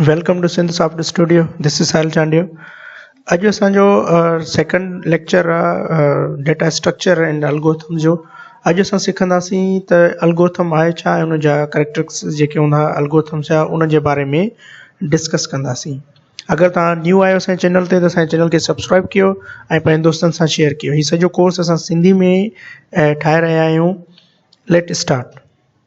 welcome to Sindh soft studio this is Sahil Chandio اڄ اسان جو سيڪنڊ ليڪچر آهي ڊيٽا اسٽرڪچر اينڊ الگوٿم جو اڄ اسان سکنداسين ته الگوٿم آهي ڇا ۽ ان جا ڪريڪٽرڪس جيڪي هوندا الگوٿم جا ان جي باري ۾ ڊسڪس ڪنداسين اگر تان نيو آيو سائين چينل تي ته سائين چينل کي سبسڪرائب ڪيو ۽ پنهنجي دوستن سان شيئر ڪيو هي سڄو ڪورس اسان سنڌي ۾ ٺاهي رهيا آهيون ليٽ اسٽارٽ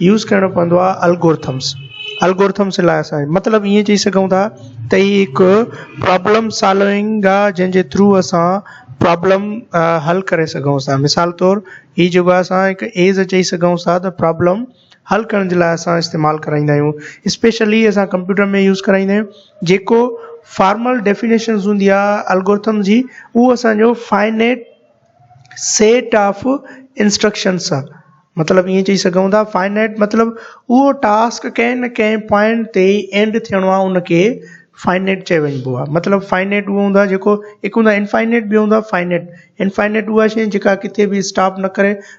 يوز ڪرڻو پوندو آ الگورٿمس الگورٿمس لاء اسان مطلب ائين چئي سگهون ٿا ته هي هڪ پرابلم سالونگ آ جنهن جي ٿرو اسان پرابلم حل ڪري سگهون ٿا مثال طور هي جيڪو آ اسان هڪ ايز چئي سگهون ٿا ته پرابلم حل ڪرڻ جي لاء اسان استعمال ڪرائيندا آهيون اسپيشلي اسان ڪمپيوٽر ۾ يوز ڪرائيندا آهيون جيڪو فارمل ڊيفينيشنز هوندي آ الگورٿم جي هو اسانجو فائنيٽ سيٽ آف انسٽرڪشن سان مطلب ائين چئي سگهون ٿا فائنائٽ مطلب اهو ٽاسڪ ڪنهن نه ڪنهن پوائنٽ تي اينڊ ٿيڻو آهي ان کي فائنائٽ چيو وڃبو آهي مطلب فائنائٽ اهو هوندو آهي جيڪو هڪ هوندو آهي انفائنائٽ ٻيو هوندو آهي فائنائٽ انفائنائٽ اها شيء جيڪا ڪٿي به اسٽاپ نه ڪري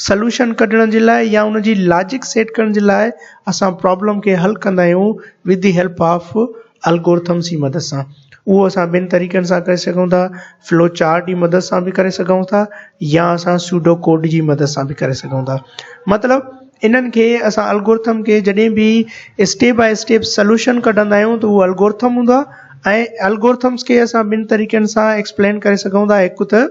سلوشن ڪڍڻ جي لاء يا ان جي لاجڪ سيٽ ڪرڻ جي لاء اسان پرابلم کي حل ڪندا آهيون with the help of algorithm جي مدد سان اهو اسان ٻن طريقن سان ڪري سگهون ٿا فلو چارٽ جي مدد سان به ڪري سگهون ٿا يا اسان سوڊو ڪوڊ جي مدد سان به ڪري سگهون ٿا مطلب انهن کي اسان الگورٿم کي جڏهن به اسٽيپ باء اسٽيپ سلوشن ڪڍندا آهيون ته اهو الگورٿم هوندو آهي ۽ الگورٿمس کي اسان ٻن طريقن سان ايڪسپلين ڪري سگهون ٿا هڪ ته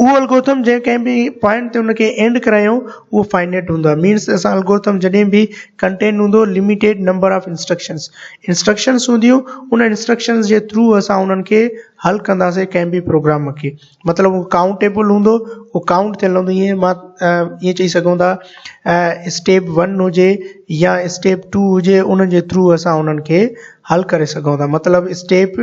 اهو الگورٿم جنهن ڪنهن به پوائنٽ تي ان کي اينڊ ڪرايون اهو فائنائٽ هوندو آهي مينس اسان الگورٿم جڏهن به ڪنٽينٽ هوندو limited number of instructions instructions هونديون ان انسٽرڪشنس جي ٿرو اسان انهن کي حل ڪنداسين ڪنهن به پروگرام کي مطلب اهو ڪائونٽيبل هوندو اهو ڪائونٽ ٿيل هوندو ائين مان ائين چئي سگهون ٿا اسٽيپ ون هجي يا اسٽيپ ٽو هجي ان جي ٿرو اسان انهن کي حل ڪري سگهون ٿا مطلب اسٽيپ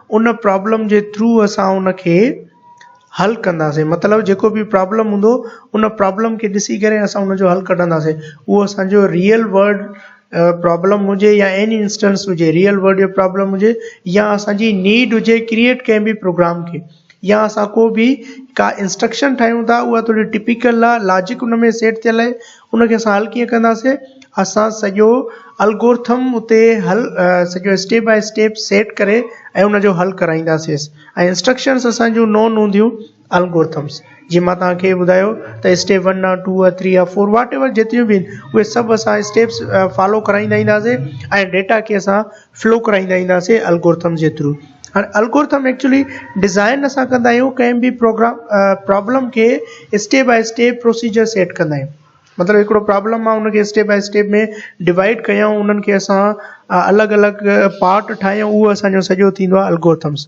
ان پرابلم جي ٿرو اسان ان کي حل ڪنداسين مطلب جيڪو به پرابلم هوندو ان پرابلم کي ڏسي ڪري اسان ان جو حل ڪڍنداسين اهو اسانجو ريئل ورلڊ پرابلم هجي يا ايني انسٽنس هجي ريئل ورلڊ جو پرابلم هجي يا اسانجي نيڊ هجي ڪريئيٽ ڪنهن به پروگرام کي يا اسان ڪو به ڪا انسٽرڪشن ٺاهيون ٿا اها ٿوري ٽپيڪل لاجڪ ان ۾ سيٽ ٿيل آهي ان کي اسان حل ڪيئن ڪنداسين اسان سڄو الگورٿم اتي حل سڄو اسٽيپ باء اسٽيپ سيٽ ڪري ۽ ان جو حل ڪرائينداسيس ۽ انسٽرڪشنس اسان جون نون هونديون الگورٿمس جي مان توهان کي ٻڌايو ته اسٽيپ ون آ ٽو آ ٿري آ فور واٽ ايور جيتريون به آهن اهي سڀ اسان اسٽيپس فالو ڪرائيندا اينداسين ۽ ڊيٽا کي اسان فلو ڪرائيندا اينداسين الگورٿم جي ٿرو هاڻي الگورٿم ايڪچولي ڊزائن اسان ڪندا آهيون ڪنهن به پروگرام پرابلم کي step by step procedure set ڪندا آهيون مطلب هڪڙو پرابلم ماڻهو ان کي اسٽيپ بائي اسٽيپ ۾ ڊوائيڊ ڪيائون انهن کي اسان الڳ الڳ پارٽ ٺاهيون اهو اسانجو سڄو ٿيندو آهي الگورٿمس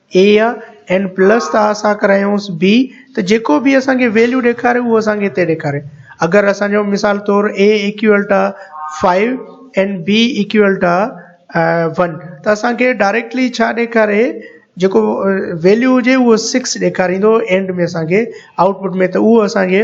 اي يا اين پلس ٿا اسان ڪرايونس بي ته جيڪو به اسان کي ويليو ڏيکاري اهو اسان کي هتي ڏيکاري اگر اسان جو مثال طور A equal to five and B equal to one ته اسان کي ڊائريڪٽلي ڇا ڏيکاري جيڪو ويليو هجي اهو سڪس ڏيکاريندو اينڊ ۾ اسان کي آؤٽ پٽ ۾ ته اهو اسان کي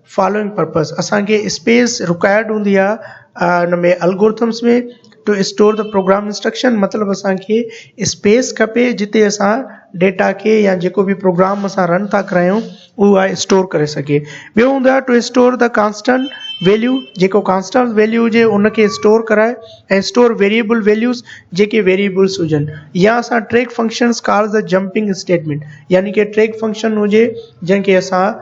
فالوئنگ پرپز اسان کي اسپيس رڪوائرڊ هوندي آ ان ۾ algorithms ۾ to store the program instruction مطلب اسان کي اسپيس کپي جتي اسان ڊيٽا کي يا جيڪو بي پروگرام اسان رن ٿا ڪرايون اهو آ اسٽور ڪري سگهي ٻيو هوندو آ to store the constant value جيڪو ڪانسٽنٽ ويليو هجي ان کي اسٽور ڪرائي ۽ اسٽور ويريبل ويليوز جيڪي ويريبلس هجن يا اسان track functions call the jumping statement يعني ڪي ٽريڪ فنڪشن هجي جنهن کي اسان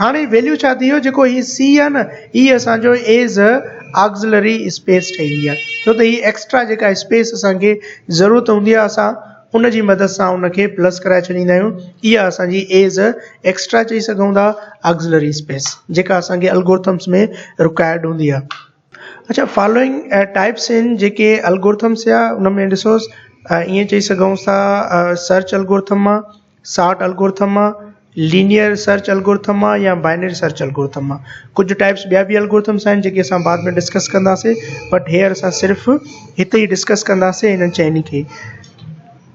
هاڻ هي ويليو ڇا ٿي ويو جيڪو هي سي آهي نه هي اسانجو ايز ا آگزلري اسپيس ٺهي وئي آهي ڇو ته هي ايڪسٽرا جيڪا اسپيس اسانکي ضرورت هوندي آهي اسان ان جي مدد سان ان کي پلس ڪرائي ڇڏيندا آهيون اها اسانجي ايز ا ايڪسٽرا چئي سگهون ٿا آگزلري اسپيس جيڪا اسانکي الگورٿمس ۾ رڪائرڊ هوندي آهي اڇا فالوئنگ ٽائپس ان جيڪي الگورٿم سيا ان ۾ ڏسو ائين چئي سگهون ٿا سرچ الگورٿم مان ساٽ الگورٿم مان لينيئر سرچ الگورٿم مان يا بائنري سرچ الگورٿم مان ڪجهه ٽائپس ٻيا بي الگورٿم سان جيڪي اسان بعد ۾ ڊسڪس ڪنداسي بٽ هيئر اسان صرف هتي ڊسڪس ڪنداسي انهن چئني کي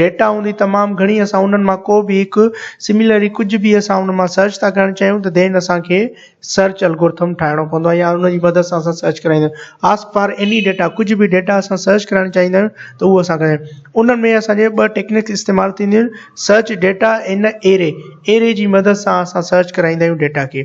ڊيٽا هوندي تمام گهڻي اسان انهن مان ڪو به هڪ سميلري ڪجهه به اسان ان مان سرچ ٿا ڪرڻ چاهيون ته ڌين اسان کي سرچ الگورٿم ٺاهڻو پوندو آهي يا ان جي مدد سان اسان سرچ ڪرائيندا آهيون آسڪ فار ايني ڊيٽا ڪجهه به ڊيٽا اسان سرچ ڪرائڻ چاهيندا آهيون ته اهو اسان کي انهن ۾ اسان جي ٻه ٽيڪنڪس استعمال ٿينديون آهن سرچ ڊيٽا ان ايري ايري جي مدد سان اسان سرچ ڪرائيندا آهيون ڊيٽا کي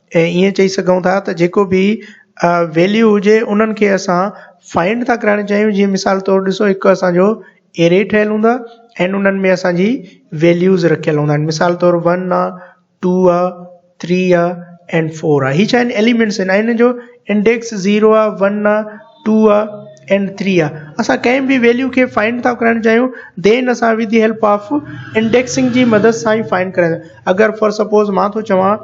۽ ائين چئي سگهون ٿا ته جيڪو به ويليو هجي انهن کي اسان فائنڊ ٿا ڪرائڻ چاهيون جيئن مثال طور ڏسو هڪ اسانجو اري ٺهيل هوند اهن انهن ۾ اسانجي ويليوز رکيل هوندا آهن مثال طور ون آ ٽو آ ٿري آ اينڊ فور آ هي ڇا آهن ايليمينٽس آهن ۽ هن جو انڊيڪس زيرو آ ون آ ٽو آ اينڊ ٿري آ اسان ڪنهن به ويليو کي فائنڊ ٿا ڪرائڻ چاهيون دين اسان with the help of indexing جي مدد سان ئي فائنڊ ڪريا اگر فار سپوز مان ٿو چوان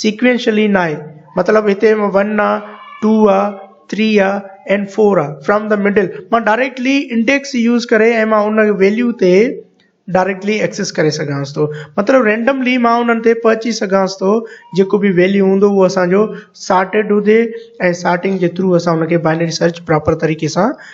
سيڪوينشلي ناهي مطلب هتي ون آ ٽو آ ٿري آ اينڊ فور آ فرام دا مڊل مان ڊائريڪٽلي انڊيڪس يوز ڪري ۽ مان ان ويليو تي ڊائريڪٽلي ايڪسيس ڪري سگهانس ٿو مطلب رينڊملي مان انهن تي پهچي سگهانس ٿو جيڪو به ويليو هوندو اهو اسانجو سارٽيڊ هجي ۽ سارٽنگ جي ٿرو اسان ان کي بائنري سرچ پراپر طريقي سان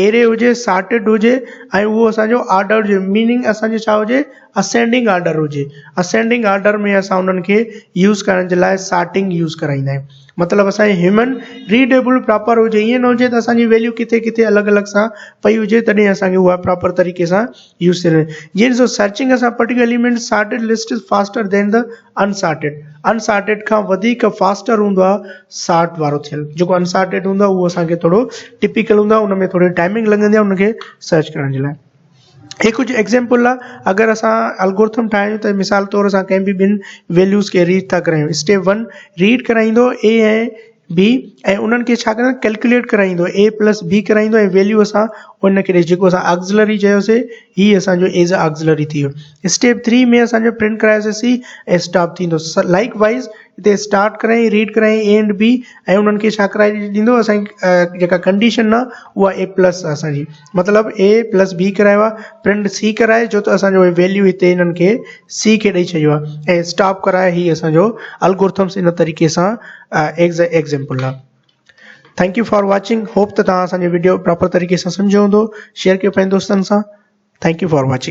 ايري هجي سارٽيڊ هجي ۽ اهو اسان جو آرڊر هجي ميننگ اسان جو ڇا هجي اسينڊنگ آرڊر هجي اسينڊنگ آرڊر ۾ اسان انهن کي يوز ڪرڻ جي لاء سارٽنگ يوز ڪرائيندا آهيون مطلب اسان جي هيومن ريڊيبل پراپر هجي ائين نه هجي ته اسان جي ويليو ڪٿي ڪٿي الڳ الڳ سان پئي هجي تڏهن اسان کي اها پراپر طريقي سان يوز ٿي رهي جيئن ڏسو سرچنگ اسان particular element sorted list faster than the unsorted unsorted کان وڌيڪ فاسٽر هوندو آهي سارٽ وارو ٿيل جيڪو انسارٽيڊ هوندو آهي اهو اسانکي ٿورو ٽپيڪل هوندو آهي ان ۾ ٿوري ٽائمنگ لڳندي آهي ان کي سرچ ڪرڻ جي لاء هي ڪجهه ايگزامپل آهي اگر اسان الگورٿم ٺاهيون ته مثال طور اسان ڪنهن به ٻن ويليوز کي ريڊ ٿا ڪرايون اسٽيپ ون ريڊ ڪرائيندو اي ۽ بي ۽ انهن کي ڇا ڪرڻ ڪلڪليٽ ڪرائيندو اي پلس بي ڪرائيندو ۽ ويليو اسان ان کي ڏئي جيڪو اسان آگزلري چيوسي هي اسانجو ايز ا آگزلري ٿي ويو اسٽيپ ٿري ۾ اسانجو پرنٽ ڪرايوسي سي ۽ اسٽاپ ٿيندو لائڪ وائز هتي اسٽارٽ ڪرائين ريڊ ڪرائين اي اينڊ بي ۽ انهن کي ڇا ڪرائي ڏيندو اسانکي جيڪا ڪنڊيشن آ اها اي پلس آ اسانجي مطلب اي پلس بي ڪرايو آهي پرنٽ سي ڪرائي جو ته اسانجو ويليو هتي هنن کي سي کي ڏئي ڇڏيو آهي ۽ اسٽاپ ڪرائي هي اسانجو الگورٿمس ان طريقي سان ايگزيمپل آهي thank you for watching hope ته تان اسانجو ويڊيو پراپر طريقي سان سمجهيو هوندو شيئر ڪيو پنهنجن دوستن سان ٿينڪ يو فار واچنگ